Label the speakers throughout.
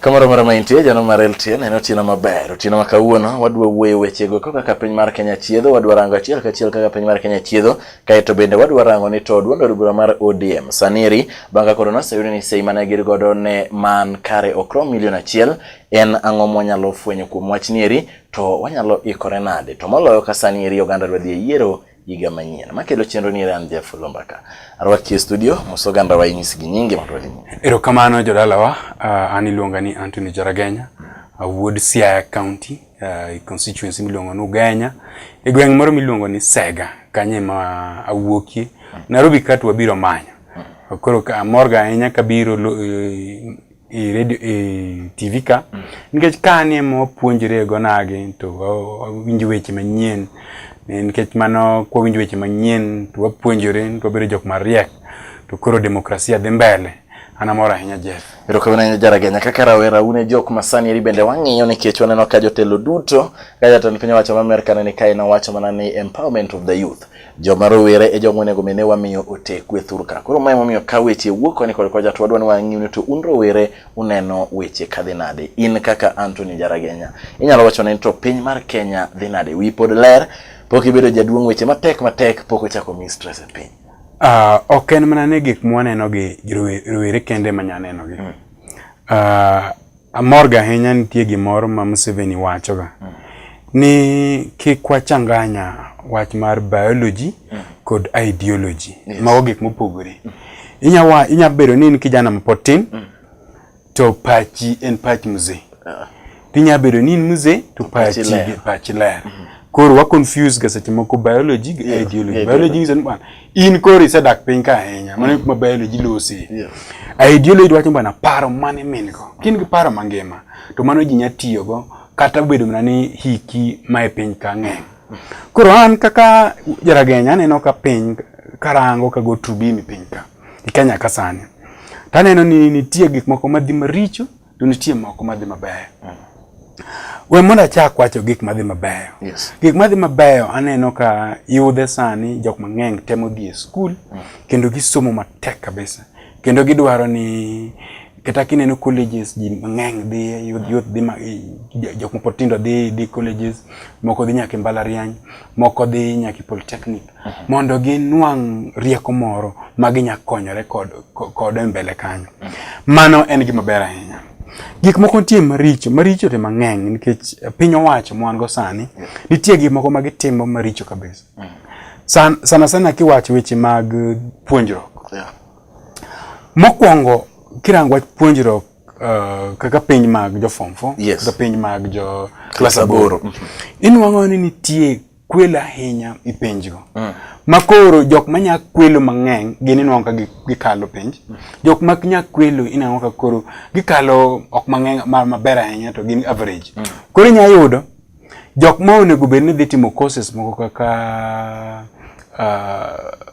Speaker 1: Kamoro moro ma intie jano mar LTN en otieno maber. Otieno ma kawuono wadwa wuoyo wechego kaka ka piny mar Kenya chiedho, wadwa rango achiel kachiel kaka piny mar Kenya chiedho, kaeto bende wadwa rango ni to duond od bura mar ODM sani eri bang' ka koro noseyud ni sei mane gin godo ne man kare ok rom milion achiel En ang'o mwanyalo fwenyo kuom wach nieri, to wanyalo ikore nade? To moloyo ka sani eri oganda dwa dhi e yiero higa manyien. Makelo chenro ni Ran Jeff Lombaka. Arwaki e studio, moso ganda wa inyis gi nyingi mondo wadhi nyime. Erokamano jodalawa,
Speaker 2: uh, ah, an iluonga ni Anthony Jaragenya, uh, wuod Siaya County, uh, constituency miluongo ni Ugenya, e gweng' moro miluongo ni Sega, kanye ma awuokie. Nairobi katu wabiro manyo. Koro amorga ahinya kabiro eh, e radio e TV ka mm. nikech ka ni ema wapuonjre go nagi to winjo weche manyien e, nikech mano kwa winjo weche manyien to wapuonjore to wabedo jok mariek to koro demokrasia dhi mbele an amor ahinya Jeff. Erokamano ahinya Jaragenya.
Speaker 1: Kaka rawera un e jok masani eri bende wang'iyo nikech waneno ka jotelo duto ka jatend piny owacho ma Amerka ne ni kae nowacho mana ni empowerment of the youth. Joma rowere e joma onego mene wamiyo ote kwethur ka. Koro mae momiyo ka weche wuok koni kod koja to wadwani wang'iu ni to un rowere uneno weche ka dhi nade. In kaka Anthony Jaragenya inyalo wacho ni to piny mar Kenya dhi nade. Wi pod ler pok ibedo jaduong' weche matek matek pok ochako mi stress e piny. Uh, ok en
Speaker 2: mana ni gik mwaneno gi rowere kende manyaneno gi. Mm. Uh, Amor ga ahinya nitie gimoro ma Museveni wachoga mm. ni kik wachanganya wach mar biology mm. kod ideology yes. mago gik mopogore mm. inya, inya bedo ni in kijana mapod tin mm. to pachi en pach mzee uh. tinya bedo ni in mzee to pachi, pachi ler, pachi ler. Mm -hmm. koro wa confuse ga seche moko biology gi yeah. ideology yeah. biology nyiso ni bwana in koro isedak piny ka ahinya mano kuma biology losi yeah. ideology wacho bana paro mane min go kin gi paro mangima to mano ji nya tiyo go kata bedo mana ni hiki ma e piny ka ng'eny koro an kaka jaragenya aneno ka piny karango ka go trubimi piny ka e Kenya ka sani taneno ni nitie gik moko madhi maricho to nitie moko madhi mabeyo. Mm. We mondo achak wacho gik madhi mabeyo. Yes. Gik madhi mabeyo aneno ka yudhe sani jok mang'eny temo dhi e skul mm. kendo gisomo matek kabisa kendo gidwaro ni kata kineno colleges ji mang'eny dhi youth youth dhi jok mopod tindo dhi dhi colleges moko dhi nyaka e mbalariany moko dhi nyaka e polytechnic mondo ginwang' rieko moro ma ginya konyore kod kod e mbele kanyo. Mano en gima ber ahinya. Gik moko nitie maricho, maricho to mang'eny nikech piny owacho mwan go sani, nitie gik moko ma gitimo maricho kabisa. Mm. San, sana sana kiwacho weche mag puonjruok. Yeah. Mokwongo kirango wach puonjruok uh, kaka piny mag jo form 4 yes. kaka piny mag jo class aboro. Mm -hmm. Inwang'o ni nitie kwelo ahinya i penjgo mm. ma koro jok ma nya kwelo mang'eny gin inwang'o ka gikalo penj mm. jok ma nya kwelo inwang'o ka koro gikalo ok mang'eny maber ahinya to gin average mm. koro inya yudo jok ma onego bed ni dhi timo courses moko kaka uh,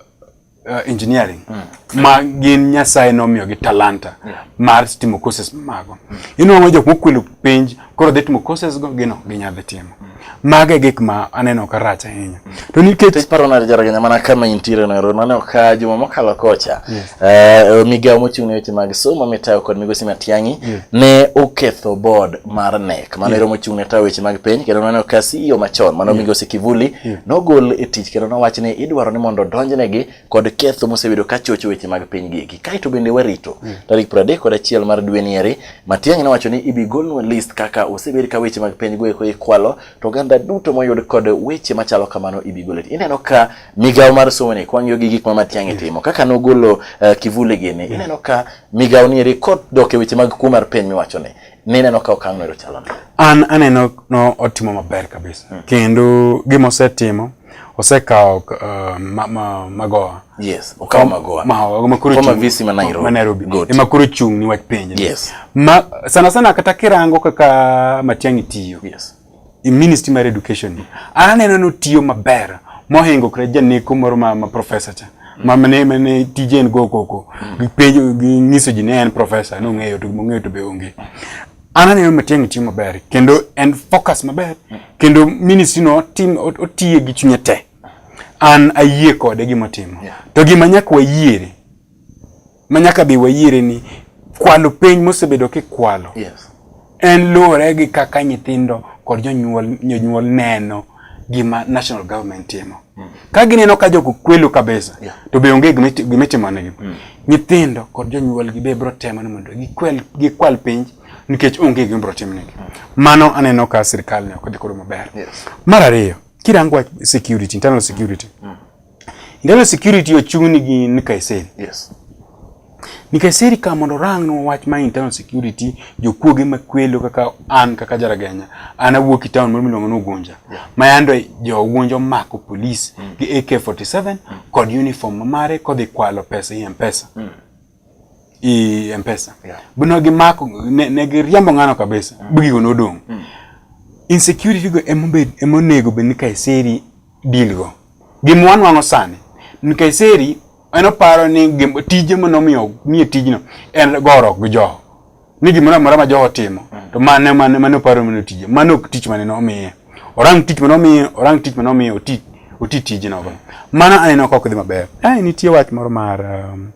Speaker 2: uh, engineering mm. ma gin nyasaye nomiyo gi talanta mm. mar timo courses mago mm. inwang'o jok mokwelo penj koro dhi timo courses go gino ginyadhi timo mm. mago e gik ma aneno ka rach ahinya mm. to nikech paro na jaraganya mana
Speaker 1: kama intiere no ero naneno ka juma mokalo kocha yes. uh, migawo mochung' ne weche mag somo mitayo kod migosi Matiang'i yes. ne oketho board mar NEC Kamano ero mochung' ne tayo weche mag piny kendo noneno ka CEO machon mano Migosi Kivuli nogol e tich kendo nowach ni idwaro ni mondo donjnegi kod ketho mosebedo ka chocho weche mag piny gigi. Kaeto bende warito tarik 30 kod achiel mar dwe nieri, Matiang'i nowacho ni ibi golnwa list kaka osebed ka weche mag piny goeko ikwalo to oganda duto moyud kod weche machalo kamano ibi gol. Ineno ka migawo mar somo ni kwang'iyo gi gik ma Matiang'i timo kaka nogolo uh, Kivuli gini ineno ka migawo nieri kodok e weche mag kuo mar piny miwacho ni Nineno ka okang' no chalo nade? An aneno no
Speaker 2: otimo maber kabisa. Hmm. Kendo gima osetimo osekawo uh, ma, ma, magoa yes okawo
Speaker 1: magoa magoa makuru kama visi
Speaker 2: ma Nairobi ma
Speaker 1: Nairobi e makuru
Speaker 2: chung ni wach penje yes ma sana sana kata kirango kaka matiangi tiyo yes e ministry mar education ni an aneno ni otiyo maber mohingo kre janeko moro ma, ma professor cha ma mane mane tije en go koko gipenjo ginyiso ji ne en professor no ng'eyo to mong'eyo to be onge an aneno matiang' tiyo maber kendo en focus maber kendo ministry no tim ot- otiye gi chunye te an ayie kode gimotimo Yeah. to gima nyaka wayiere ma nyaka be wayiere ni kwalo piny mosebedo kikwalo yes. en luwore gi kaka nyithindo kod jonyuol jonyuol neno gima national government timo mm. ka gineno ka jogo kwelo kabisa yeah. to be onge gima itimonegi mm. nyithindo kod jonyuolgi be biro temo ni mondo gikwel gikwal piny nikech onge gima biro timnegi mm. mano aneno ka sirkal ne ok dhi koro maber yes. mar ariyo kirango security internal security mm. Internal security ochung'ni gi Nkaiseri. Yes. Nkaiseri ka mondo rang no wach ma internal security jokuoge makwelo kaka an kaka jaragenya an awuok e town moro miluongo ni Ugunja yeah. ma yando jo Ugunja mako police mm. gi AK47 mm. kod uniform mare kodhi kwalo pesa e M-Pesa. Mm. i mpesa yeah. bino gimako ne, ne giriambo ng'ano kabisa mm. bigigo nodong' mm. insecurity go emobed emonego bed ni kaiseri deal go gima wanwang'o sani ni kaiseri en oparo ni tije manomiyo miye tijno en gorok gi joho ni gimoro amora ma jogo timo to mane mane mane oparo mane tije mane ok tich mane nomiye orang tich mane omiye orang tich mane omiye oti oti tije nogo mana aneno ka ok dhi maber ai nitie wach moro mar um,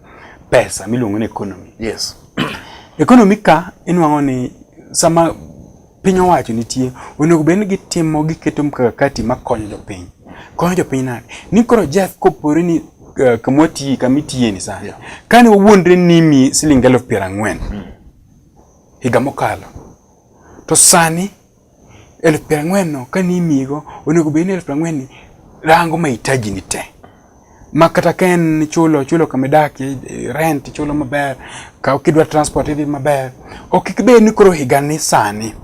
Speaker 2: pesa miluongo ni economy yes economy ka inwang'o ni sama piny owacho nitie onego bed ni gitimo giketo mkakati makonyo jopiny konyo jopiny nade ni koro Jeff kopore ni uh, kamwa tiye kama itiye ni sani yeah. kane wawuondre nimi siling elfu piero ang'wen mm. higa mokalo to sani elfu piero ang'wen no kane imiyigo onego bed ni elfu piero ang'wen ni rango mahitaji ni te ma kata ka en ichulo ichulo kama idakie rent ichulo maber ka kidwa transport idhi maber ok ibed ni koro higa ni sani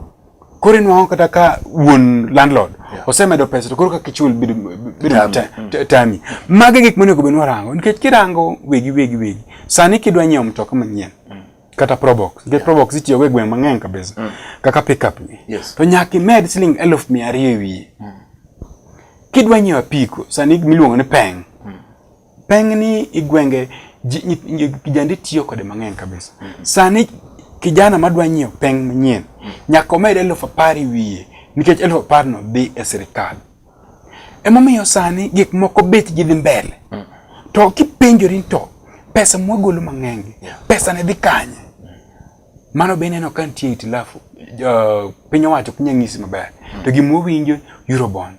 Speaker 2: koro inwang'o kata ka wuon landlord yeah. osemedo pesa to koro kaka ichul bedo mm. tami magi gik monego bed ni warango nikech kirango wegi wegi wegi sani kidwa nyiewo mtoka manyien mm. kata probox nikech yeah. probox itiyogo e gweng' mang'eny kabisa mm. kaka pickup ni yes. to nyaka imed siling eluf mia ariyo e wiye mm. kidwa nyiewo apiko sani miluongo ni peng mm. peng ni igwenge kijande tiyo kode mang'eny kabisa mm -hmm. sani kijana madwa nyiewo peng manyien mm. nyaka omed eluf apar e wiye nikech eluf aparno dhi e sirikal Emomiyo sani gik moko bet gi dhi mbele. Mm. To kipenjori to pesa mwagolo mang'eny, pesa ne dhi kanye? Mano be neno ka nitie itilafu. Uh, piny owacho piny ang'isi maber. Mm. To gima wawinjo Eurobond.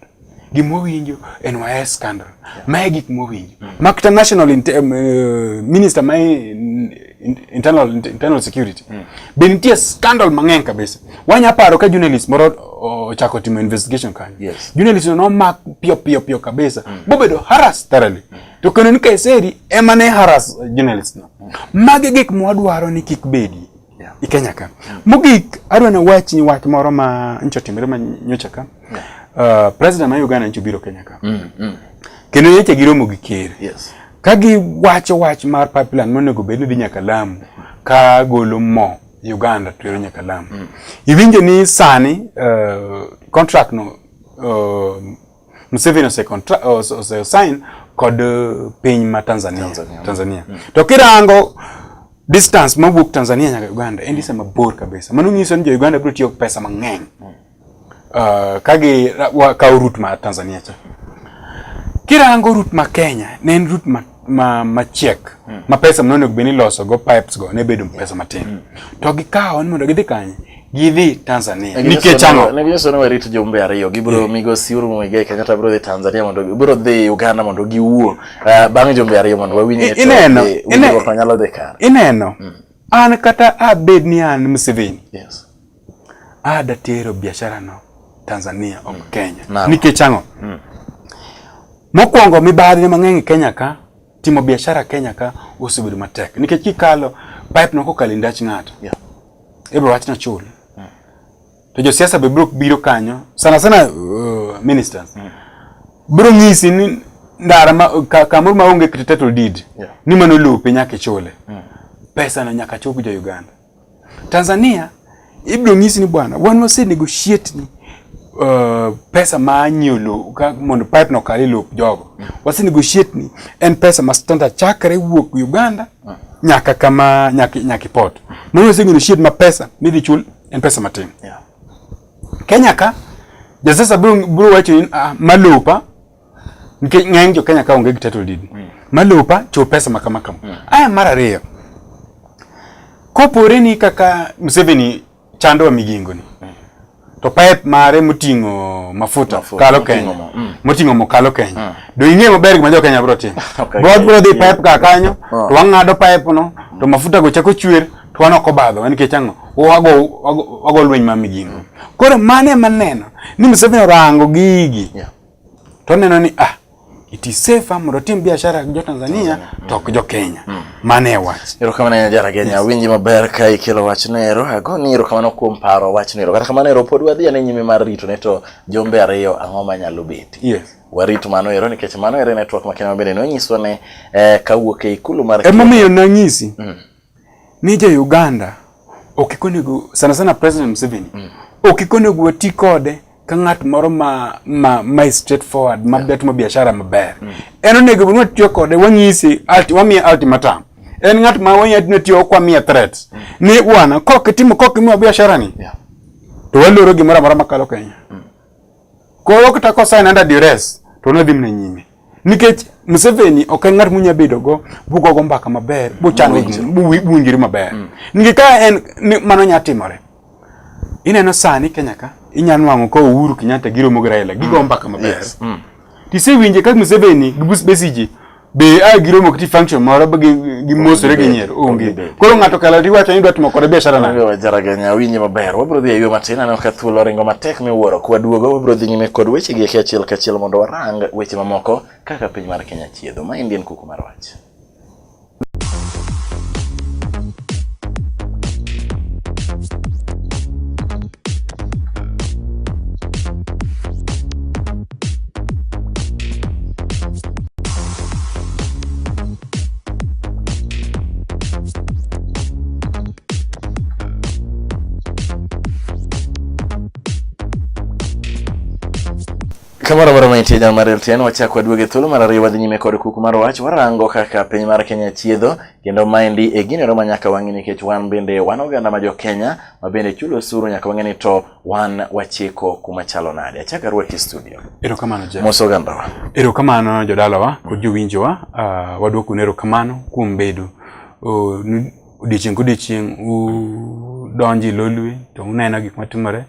Speaker 2: Gima wawinjo NYS scandal. Yeah. Mae gik mwawinjo. Mm. Makta National in, um, uh, Minister mae in, internal, internal security. Mm. Be nitie scandal mang'eny kabisa. Wanya paro ka journalist moro ochako timo investigation kanyo. Yes. Journalist no mak pio pio pio kabisa. Mm. Bobedo harass thoroughly. Mm. To kendo ni Kaiseri ema ne harass journalist no. Mm. Mage gik mwadwaro ni kik bedi. Yeah. I Kenya ka. Mm. Mogik adwa na wach ni wach moro ma ncho timre ma nyocha ka. Yeah. Uh, president ma Uganda ncho biro Kenya ka. Mm. Mm. Kendo yeche giromo gi ker. Yes. Ka giwacho wach mar pipeline monego bed ni dhi nyaka Lamu ka golo mo Uganda to ero nyaka Lamu. Mm. Iwinjo ni sani uh, contract no uh, Museveni ose contract ose, ose sign kod uh, piny ma Tanzania Tanzania, Tanzania. Mm. to kirango distance mawuok Tanzania nyaka Uganda en distance mabor kabisa mano nyiso ni jo Uganda biro tiyo pesa mang'eny mm. Uh, kagi kawo route ma Tanzania cha. Kirango route ma Kenya ne en route ma ma machiek mm. ma pesa mno onego beni loso go pipes go ne bedo pesa matin mm. to gikawo ni mondo gidhi kanye gidhi Tanzania nikech ang'o ne gisono warit jumbe
Speaker 1: ariyo gibro yeah. migo siuru mwige kata bro dhi Tanzania mondo bro dhi Uganda mondo giwuo uh, eh, bang' jumbe ariyo mondo wawinye to ineno ineno ineno mm.
Speaker 2: an kata abed ni an Museveni yes Ah, datero biashara no Tanzania ok mm. Kenya. No. Nikech ang'o? Mm. Mokwongo mibadhi mang'eny Kenya ka timo biashara Kenya ka osebedo matek nikech kikalo pipe no kokalo ndach ng'ato. Yeah. Ebro wachna chul. Mm. To josiasa be bro biro kanyo sana sana uh, ministers. Mm. Bro ng'isi ni ndara ma, ka, kamoro ma onge title deed yeah. ni mano lope nyaka ichule mm. pesa no nyaka chop jo Uganda Tanzania ibiro nyisi ni bwana wan wase negotiate ni uh, pesa ma anyiewo lowo mondo pipe no kal e lop jogo mm. wase negotiate ni en pesa ma standard chakre wuok Uganda mm. nyaka kama nyaka nyaka ipot mano wase negotiate ma pesa midhi chul en pesa matin yeah. Kenya ka jasasa bro bro wacho ni uh, ah, malopa Nikech ng'eny jo Kenya ka onge gi title deed. Mm. Malopa cho pesa ma kama kama. Mm. Aya mar ariyo. Kopore ni kaka Museveni chando wa migingo ni. Mm. To pipe mare moting'o mafuta, mafuta kalo Kenya. Mm. Moting'o mo kalo Kenya. Mm. Do ing'e maber gima jo Kenya bro timo. okay. Bro bro dhi pipe ka kanyo, oh. to wang'ado pipe no, to mm. mafuta go chako chwer, to wan ok obadho, en nikech ang'o? Wago wago lweny ma migingo. Koro mane maneno ni Museveni orango gigi. Yeah. to oneno ni ah it is safer mondo otim biashara gi jo-Tanzania mm. to ok jo-Kenya. Mm. Mano e wach. Erokamano ahinya Jara Kenya.
Speaker 1: Awinji maber ka ikelo wachno ero. Agoni erokamano kuom paro wachno ero. Kata kamano ero pod wadhi ane nyime mar rito ne to jombe ariyo ang'o manyalo betie. Yes. Warit mano
Speaker 2: ero
Speaker 1: nikech mano ero e network makende mabende nonyiswa ne eh, kawuok e ikulu mar Emomiyo nanyisi.
Speaker 2: Mm. ni jo Uganda ok ikonego sana sana President Museveni mm. ok ikonego wati kode ka ng'at moro ma ma ma straight forward ma yeah. timo biashara maber mm. en onego bed watiyo kode wanyisi alti wamiye ultimatum en ng'at ma wanyatino tiyo kwa miye threat mm. ni bwana kok timo kok imiwa biashara ni yeah. to waloro gimoro amora makalo Kenya mm. Koro kata kosain under duress to nodhi mne nyime nikech Museveni ok en ng'at munya bedo go bugo go mbaka maber buchano buwinjiri maber mm. nikech ka en mano nya timore ineno sani Kenya ka inya nwang'o ka Uhuru Kenyatta giromo gi Raila gigo mm. mbaka maber mm. tisewinje ka Museveni gi Besigye be a giromo kiti function moro gi gimosore gi nyiero onge koro ng'ato kala ti wacho ni dwa timo kode biashara na yo jara ganya winje
Speaker 1: maber wabro dhi e yo matin aneno ka thuolo ringo matek miwuoro kwa duogo wabro dhi nyime kod weche gi e achiel kachiel mondo warang weche mamoko kaka piny mar Kenya chiedho ma indien kuku mar wach Kamoro moro mantie jam mar LTN wachako aduoge thuolo mar ariyo wadhi nyime kod kuku mar wach warango kaka piny mar Kenya chiedho kendo maendi e gini ero ma nyaka wang'e nikech wan bende wan oganda ma jo Kenya ma bende chulo osuru nyaka wang'e ni to wan wachiko kuma chalo nade achaka rwaki studio erokamano je moso
Speaker 2: gandawa
Speaker 1: erokamano
Speaker 2: jodalawa kod jowinjowa uh, ah, wadwoku nero kamano kuom bedo uh, odiechieng' kodiechieng' udonji lolwe to uneno gik matimore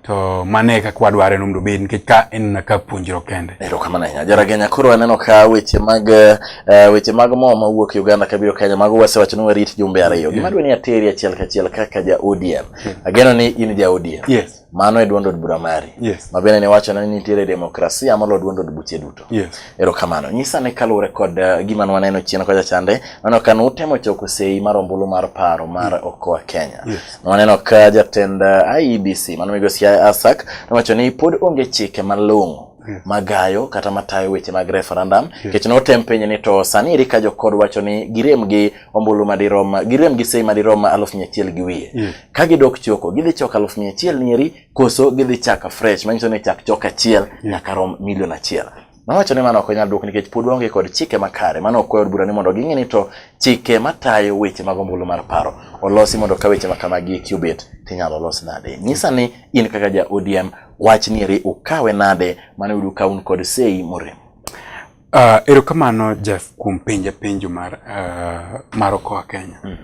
Speaker 2: to mane kaka wadware nomdo obed nikech ka en na ka puonjruok kende erokamano ahinya jaragenya
Speaker 1: koro aneno ka weche mag uh, weche mag mo mawuok uganda kabiro kenya mago wasewachoni warit jumbe ariyo gima dwe ni ateri achiel kachiel kaka ja odm Yeah. Ageno ni in ja ODM. Yes. Mano e duond
Speaker 2: od bura
Speaker 1: mari. Yes. Ma bende ne wacho ni
Speaker 2: nitiere
Speaker 1: demokrasia molo duond od buche duto. Yes. Ero kamano.
Speaker 2: Nyisa ne
Speaker 1: kaluwore kod uh, gima nwaneno chien kocha chande, nano kan utemo choko sei mar ombulu mar paro mar mm. Okoa Kenya. Yes. Nwaneno ka
Speaker 2: jatend
Speaker 1: uh, eh, IEBC, mano migosi Asak, nowacho ni pod onge chike malong'o Hmm. magayo kata matayo weche mag referendum nikech yeah. notem penye ni to sani eri ka jokod wacho ni girem gi ombulu madirom girem gi sei madirom ma aluf mia achiel gi wiye yeah. ka gidok choko gidhi choko aluf mia achiel nieri koso gidhi chaka fresh manyiso ni chak chok achiel yeah. nyaka rom milion achiel Nowacho ni mano ok onyal duok nikech pod waonge kod chike makare. Mano ok od bura ni mondo ging'e ni to chike matayo weche mag ombulu mar paro olosi mondo ka weche makamagi eki obet tinyalo los nade. Nyisa ni in kaka ja ODM wach nieri ukawe nade mane uyudo ka un kod sei morem. Uh,
Speaker 2: erokamano Jeff kuom penja penjo mar uh, mar Okoa Kenya. Mm.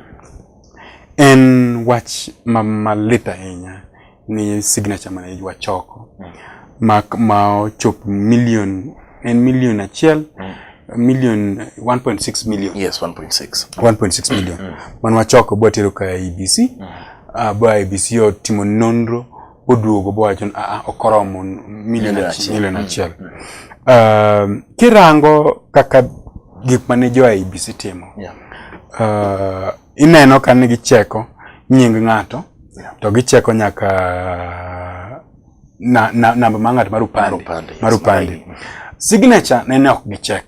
Speaker 2: En wach ma malit ahinya ni signature mane ywa choko. Mm. Ma ma ochop million en million achiel. Mm. Million 1.6 million. Yes, 1.6. 1.6
Speaker 1: million.
Speaker 2: Mm. Manwa choko bwa tero ka IBC. E mm. Uh, ah, bwa IBC e otimo nonro. oduogo bowacho ni aa ok oromo milion Milion achiel. achiel. milion Mm. achiel Um, kirango kaka gik mane jo IBC timo Yeah. uh, ineno ka ni gicheko nying ng'ato Yeah. to gicheko nyaka na, na, namba ma ng'at mar Mar upande upande, yes, mar upande. mar ID. signature nene ok gichek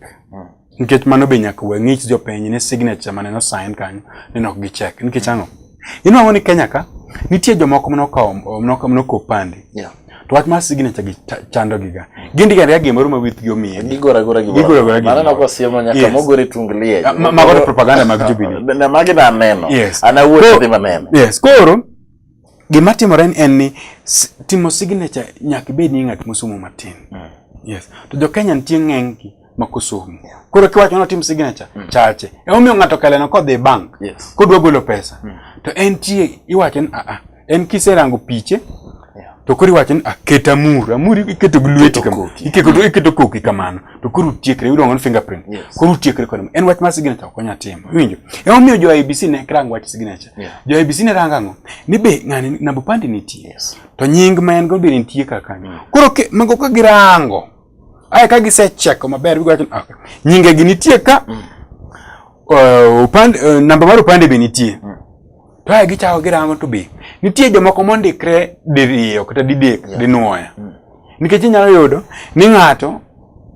Speaker 2: Nikech mano be nyaka we ng'ich jopiny ni signature mane no sign kanyo ni nok gi check. Nikech ang'o? Inuang'o ni Kenya ka nitie jomoko mane okawo mane okawo mane okawo opande. Yeah. To wach mar signature gi ta- chando gi ga. Gindiko ariya gimoro ma withgi omiye. Gigora gora gi Gigora
Speaker 1: gora gi Mano gimoro. nako siemo nyaka Yes. mogore tung liye. Ah, ma- mago to propaganda
Speaker 2: mag Jubilee. Na magi na aneno.
Speaker 1: Yes. An awuoyo Koro- adhi maneno. Yes, koro
Speaker 2: Gima timore en ni timo signature nyaka ibed ni ng'at mosomo matin. Mm. Yes. To jo Kenya nitie ng'eny gi mak osomo. Koro kiwacho ni otim signature mm. chache. E omiyo ng'ato kaleno kodhi e bank yes. kodwa golo pesa. Mm. To en tie iwacho ni a a en kiserango piche yeah. to koro iwacho ni aket amur amur iketo gi lweti kamano iketo koki kamano to koro utiekre iluongo ni fingerprint yes. koro utiekre kod en wach mar signature ok onya timo iwinjo ema omiyo jo IBC ne rang wach signature yeah. jo IBC ne rang ang'o ni be ng'ani namba pande nitie yes. to nying ma en go be nitie kaka mm. koro ke, mago ka girango ae ka gisecheko maber giwacho okay. Ah, nyinge gi nitie ka mm. uh, upande, uh, namba mar upande be nitie mm. to ae gichako girango to be nitie jomoko mondikre diriyo kata didek yeah. dinwoya mm. nikech inyalo yudo ni ng'ato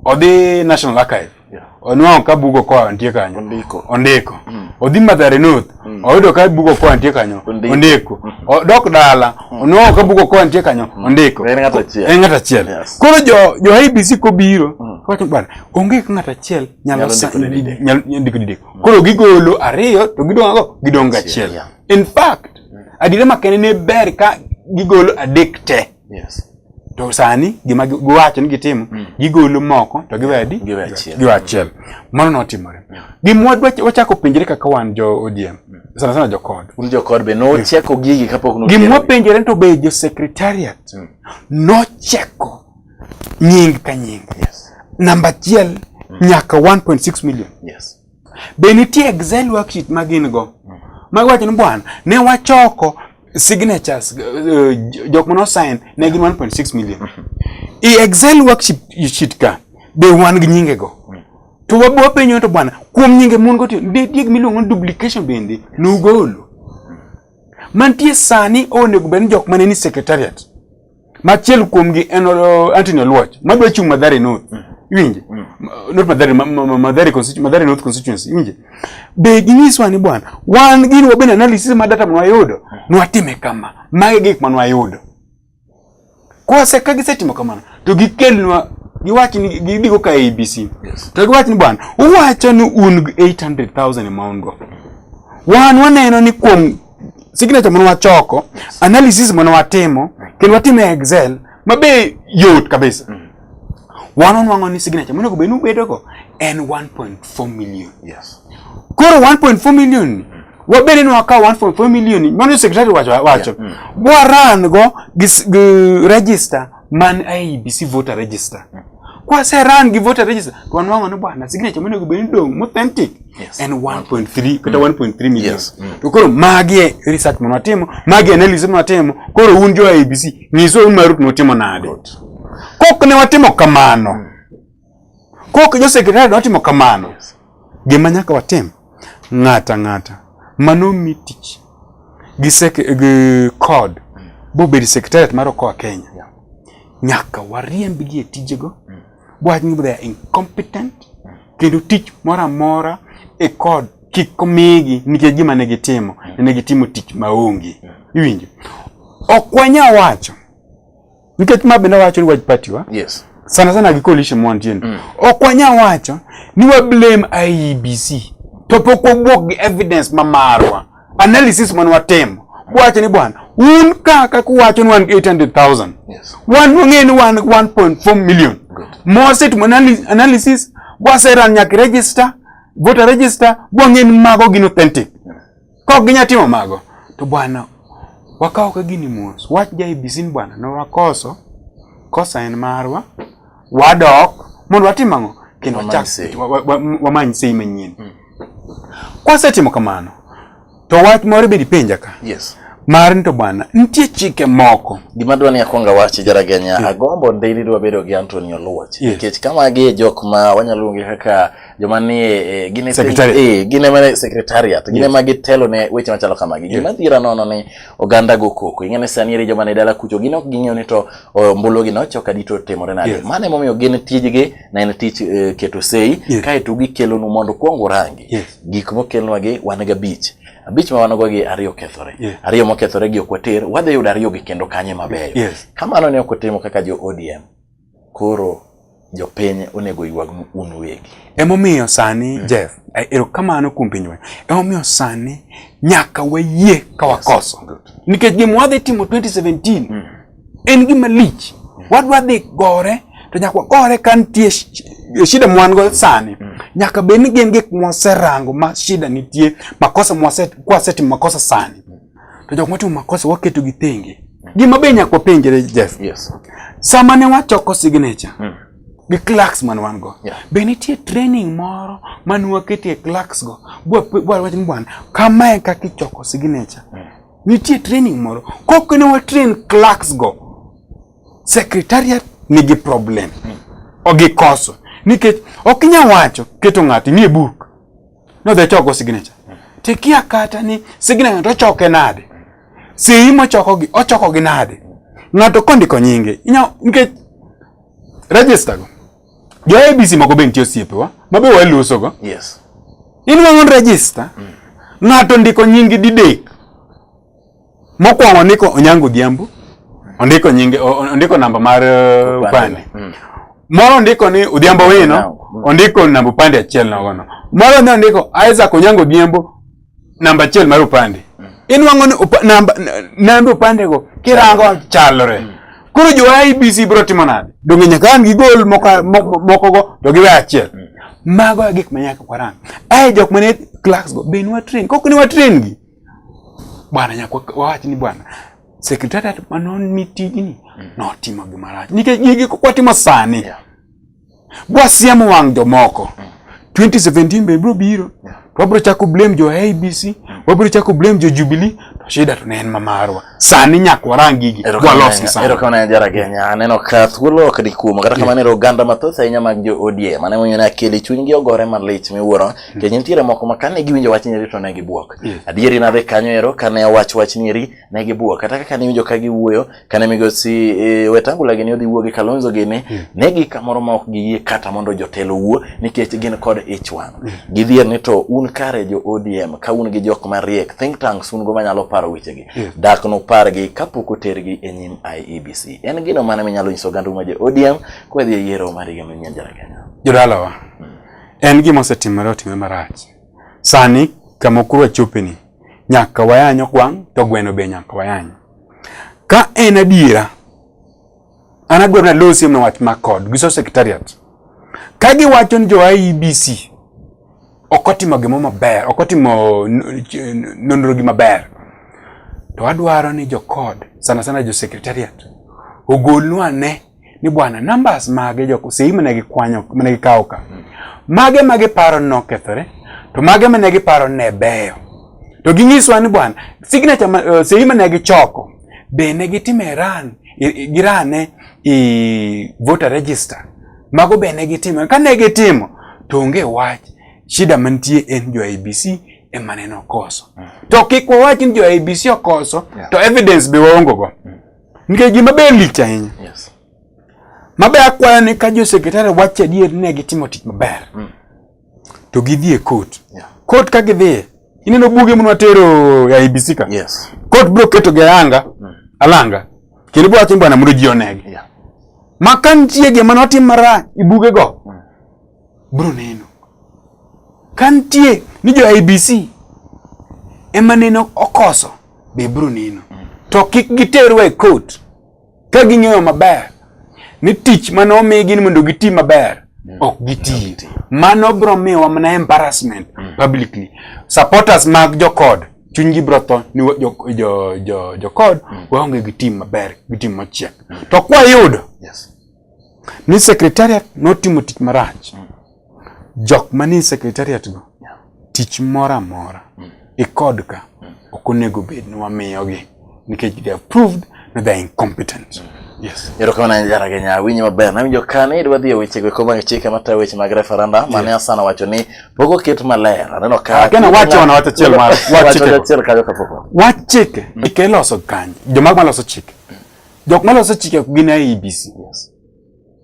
Speaker 2: odhi national archive yeah. onwang'o ka bugo koa nitie kanyo ondiko, ondiko. Mm. odhi madhare north mm. oyudo ka bugo koa nitie kanyo ondiko, ondiko. Mm. odok dala mm. onwang'o ka bugo koa nitie kanyo mm. ondiko en ng'ato achiel, en ng'ato
Speaker 1: achiel. Yes. koro jo, jo
Speaker 2: IBC kobiro mm. wacho bwana onge ka ng'ato achiel nyalo ndiko didek Koro gigolo ariyo to gidong' go gidong' gachiel. Yeah. In fact, adire makende ne ber ka gigolo adek te. Yes. To sani gima gi- giwacho ni gitimo, gigolo moko to giwe adi? Giwe achiel. Giwe achiel. Mano notimore. Gima wadwa- wachako penjre kaka wan jo ODM, sana sana jo kod. Un jokor be nocheko
Speaker 1: gigi kapok Gima notiere. wapenjore to be
Speaker 2: jo secretariat nocheko nying ka nying. Yes. Namba achiel mm. nyaka 1.6 million. Yes. Be nitie Excel worksheet ma gin go? Mm. Mago wacho ni bwana, ne wachoko signatures uh, jok mano sign ne gin 1.6 million. Mm-hmm. I Excel worksheet ka be wan gi nyinge go. Mm. To wabo penyo to bwana, kuom nyinge mon go tiyo, be dieg miluongo duplication bende nugolo. Mm. Mantie sani onego bed ni jok mane ni secretariat. Machiel kuomgi en uh, Anthony Oluoch madwa chung' Mathare North. Mm. Iwinje? Mm. Not Mathare, ma, ma, Mathare, Mathare North constituency. Iwinje? Be ginyiswa ni bwana, wan gini wabende analysis ma data mwayudo, mm. nwatime kama. Mage gik ma nwayudo. Kwa se ka gisetimo kamano, to gikelnwa giwach ni gidigo ka ABC. Yes. To giwach ni bwana, uwacho ni un 800,000 e maungo. Wan waneno ni kuom signature mane wachoko, analysis mane watimo, kendo watimo e Excel mabe yot kabisa. Mm. Wan onwang'o ni signature monego bed ni ubedogo en 1.4 million. Yes. Koro 1.4 million ni mm. wabede ni wakawo 1.4 million ni mano secretary wacho wacho. Yeah. Mm. Waran go gi register man IEBC voter register mm. kwaseran gi voter register to wanwang'o ni bwana signature monego bed ni dong' mothentic yes. en 1.3 kata 1.3 mm. million yes. mm. to koro magi e research mano watimo magi e analysis mano watimo koro un jo IEBC nyiswa un marut notimo nade kok ne watimo kamano mm. Kok jo sekretari dwa timo kamano, gima nyaka watim ng'ata ng'ata mano mi tich gi sek gi kod bo bed sekretariat mar okoa Kenya yeah. nyaka wariemb gi e tijego mm. wach ni they are incompetent mm. kendo tich moro amora e kod kik omigi nikech gima ne gitimo mm. ne gitimo tich maonge mm. iwinjo ok wanya wacho Nikech ma bende wacho ni wach party wa. Yes. Sana sana gi coalition mwan tien. Mm. Ok wanya wacho ni wa blame IEBC. To pok wabwok gi evidence ma marwa. Analysis man watem. Wacho ni bwana, un kaka kuwacho ni wan 800,000. Yes. Wan wang'e ni wan 1.4 million. Good. Moset analysis waseran nyaka register, voter register, wang'e ni mago gin authentic. Kok ginya timo mago. To bwana wakawo ka gini mos. Wach ja ABC ni bwana ne wakoso kosa en marwa wadok mondo watim ang'o kendo Wamany wachak sei. wa- wa- wa- wamany sei manyien. Mm. Kwasetimo kamano to wach moro bedi penja ka Yes. mar ni to bwana nitie chike moko Gima dwa ni akwonga
Speaker 1: wachi jaraganya agombo ndeyni dwa bedo gi Anthony Oluoch Yes. nikech kama gi e jok ma wanyalo luonge kaka joma ni e, gin e e, gin ema ne secretariat gin ema gitelo ne weche machalo kamagi gima dhira nono ni oganda go koko ing'e ni sani eri joma ne dala kucho gin ok ging'eyo ni to ombulu gi nocho ka dito timore nade mano emomiyo gin tijgi na en tich e, keto sei kaeto gikelonu mondo kwong urangi gik mokelnwagi wan ga bich abich ma wan-go gi ariyo kethore yeah. ariyo mokethore gi ok water wadhi yudo ariyo gi kendo kanye mabeyo yes. kamano ne ok otimo kaka jo odm Koro jopiny onego oywagnu un uwegi. Emomiyo sani
Speaker 2: mm. Jeff, eh, erokamano kuom pinywa. Emomiyo sani nyaka wayie ka wakoso. Yes, Nikech gima wadhi timo 2017 mm. en gima lich. Mm. Wadwa dhi gore to nyaka wakore ka nitie shida mwango sani mm. nyaka bed ni gin gik mwaserango ma shida nitie makosa mwasetimo makosa sani to jok motimo makosa waketo gi thenge. Gima be nyaka wapenjre Jeff. Yes. Sama
Speaker 1: ne
Speaker 2: wachoko signature. Mm. Gi clerks man wan go. Yeah. Be nitie
Speaker 1: training
Speaker 2: moro man waketie clerks go. Bwa bwa wach ni bwana, kama e kaka ichoko signature. Mm. Nitie training moro. Kok ne wa train clerks go. Secretariat nigi problem. Mm. Ogikoso. Nikech ok inya wacho keto ng'ato nie buk. nodhi choko signature to ikia kata ni signature to ochoke nade sei mochokogi ochokogi nade ng'ato kondiko nyinge nikech register go jo abc moko be nitie osiepewa ma be walusogo yes.
Speaker 1: inuang'o
Speaker 2: register mm. ng'ato ndiko nyingi didek Mokwongo ndiko Onyango Odhiambo, ondiko nyinge, ondiko namba mar uh, upande. Mm. Moro ndiko ni Odhiambo Wino, ondiko namba upande achiel nogono. Moro ne ondiko Isaac Onyango Odhiambo, namba achiel mar upande. Mm. Inwang'o ni upa, namba, namba upande go kirango chalore. Mm. Koro jo IBC bro timo nade? Donge nyaka an gi gol moko moko go to giwe achiel. Mm. Mago e gik ma nyaka kwarang. Ai jok mane clerks go be nwa train. Kok ni wa train gi. bwana nyako wawach ni bwana sekretariat ma nomi tijni mm. notimo gima rach nikech gigi kwatimo sani yeah. bwasiemo wang' jomoko mm. 2017 be biro biro yeah. wabiro chako blame jo abc mm. wabiro chako blame jo jubilee to shida to ne en mamarwa sani nyaka warang gigi walosgi sani. Erokamano jara Kenya,
Speaker 1: aneno ka thuolo ok ni kuom kata kamano ero oganda mathoth ahinya mag jo ODM mane mwenyo ne akeli chunygi ogore malich miwuoro hmm. kech nitiere moko ma kane giwinjo wach nyeri to ne gibuok. Hmm. Adieri nadhi kanyo ero kane owach wach nyeri ne gibuok kata kaka niwinjo ka giwuoyo kane migosi e, Wetangula gini odhi wuoyo gi Kalonzo gini hmm. ne gi kamoro ma ok giyie kata mondo jotelo wuo nikech gin kod ich wang'. gidhier ni to un kare jo ODM ka un gi jok mariek think tanks un go manyalo paro wechegi yeah. dak nopargi kapok otergi e nyim IEBC en gino mane minyalo nyiso oganda ma jo ODM kwa dhi e yiero mar higa manyien jara Kenya jodalawa hmm.
Speaker 2: en gima osetimore otimore marach sani kama okuru achopeni nyaka wayanyo kwang' to gweno be nyaka wayanyo ka en adiera An adwaro ni alosi mna wach ma kod gi so secretariat. Ka giwacho ni jo IEBC ok otimo gimo maber, ok otimo nonro gi maber. To adwaro ni jo kod sana sana jo secretariat ogolnwa ane ni bwana numbers mage jo sei mane gikwanyo mane gikawo ka. Mage mage paro nokethore to mage mane giparo ne beyo. To ginyiswa ni bwana signature uh, sei mane gichoko be ne gitimo Iran girane i voter register mago be ne gitimo ka ne gitimo to onge wach shida mantie en jo IBC ema neno koso mm. to kik wawach ni jo IBC okoso yeah. to evidence be waongo go mm. nikech gima be lich ahinya yes.
Speaker 1: mabe
Speaker 2: akwayo ni ka jo sekretari wacho adier ne gitimo tich maber mm. to gidhi e court yeah. court ka gidhiye ineno buge mnwa tero ya IBC ka yes. court bro keto
Speaker 1: gi
Speaker 2: ayanga mm. alanga kendo bwacho bwana mondo ji onegi yeah. ma ka nitie gima notim marach i buge go mm. bro neno ka nitie ni jo IBC ema neno okoso be bro neno mm. to kik giterwa e court ka ging'eyo maber ni tich mane omigi ni mondo giti maber mm. ok giti mano bro miwa mana embarrassment mm. publicly supporters mag jokod chunygi bro tho ni jokod jo, jo, jo mm. waonge gi tim maber gi tim machiek to kwayudo yes. ni secretariat notimo tich marach mm. jok manie secretariat go yeah. tich moro amora mm. ikod ka mm. ok onego bed ni wamiyogi nikech they have proved that they are incompetent mm. Yes. Erokamano ahinya Jara Kenya,
Speaker 1: awinjo maber. Nawinjo ka ne idwa dhi e wechego eko mag chike matayo weche mag referenda mane yes. Asana wacho ni pok oket maler. Aneno ka Kenya wacho wana wacho chiel
Speaker 2: mar wacho chiel kajo
Speaker 1: kapoko. Wach chike mm.
Speaker 2: ikeloso kanyo. Joma maloso chike. Jok ma loso chike ok gin IEBC. Yes.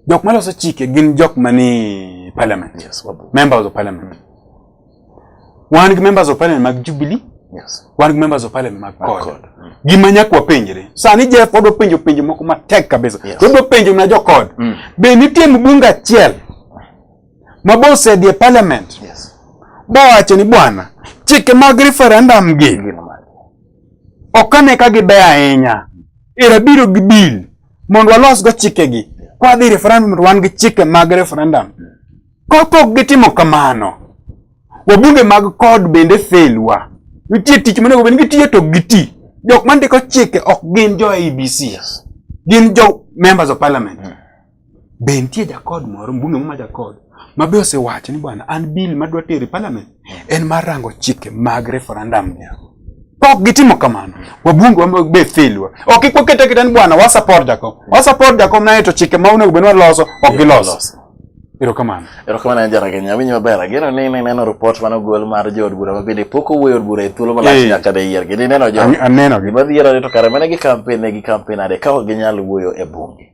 Speaker 1: Jok ma loso
Speaker 2: chike gin jok ma ni parliament. Yes, wabu. Members of
Speaker 1: parliament.
Speaker 2: Mm. Wan gi members of parliament mag Jubilee. Yes. Wan gi members
Speaker 1: of parliament
Speaker 2: mag CORD. Mm. Gima nyakwa penjre. Sani Jeff odwa penjo penjo moko matek kabisa. Yes. Odwa penjo na jo CORD. Mm. Be nitie mbunga achiel ma bosedi e parliament. Yes.
Speaker 1: Bowacho ni
Speaker 2: bwana, chike mag referendum gi. Yes. Ok ane ka gibeyo ahinya. Era biro gi bill mondo walosgo chikegi. Kwa dhi referendum to wan gi chike mag referendum. Kapok gitimo kamano, wabunge mag kod bende fail wa. Nitie tich monego bed ni gitiyo to giti. Jok mandiko chike ok gin jo IEBC. Gin jo members of parliament. Be nitie jakod moro mbunge ma jakod ma be osewacho ni bwana an bill ma dwa tero e parliament en mar rango chike mag referendum ni. Pok gitimo kamano. Wabunge wa be failwa. Ok ikwa kete kete ni bwana wa support jakom. Wa support jakom na eto chike ma onego benwa loso ok giloso. Ero kamano. Ero kamano en jara Kenya
Speaker 1: winyo maber. Ageno ni ne neno report mano gol mar jood bura ma bende pok owuoyo od bura e thuolo malach eh. nyaka de yier. Gini neno jo. Aneno. Gima dhiero ni
Speaker 2: to kare
Speaker 1: mane gi campaign ne gi campaign ade ka ok ginyal wuoyo e bunge.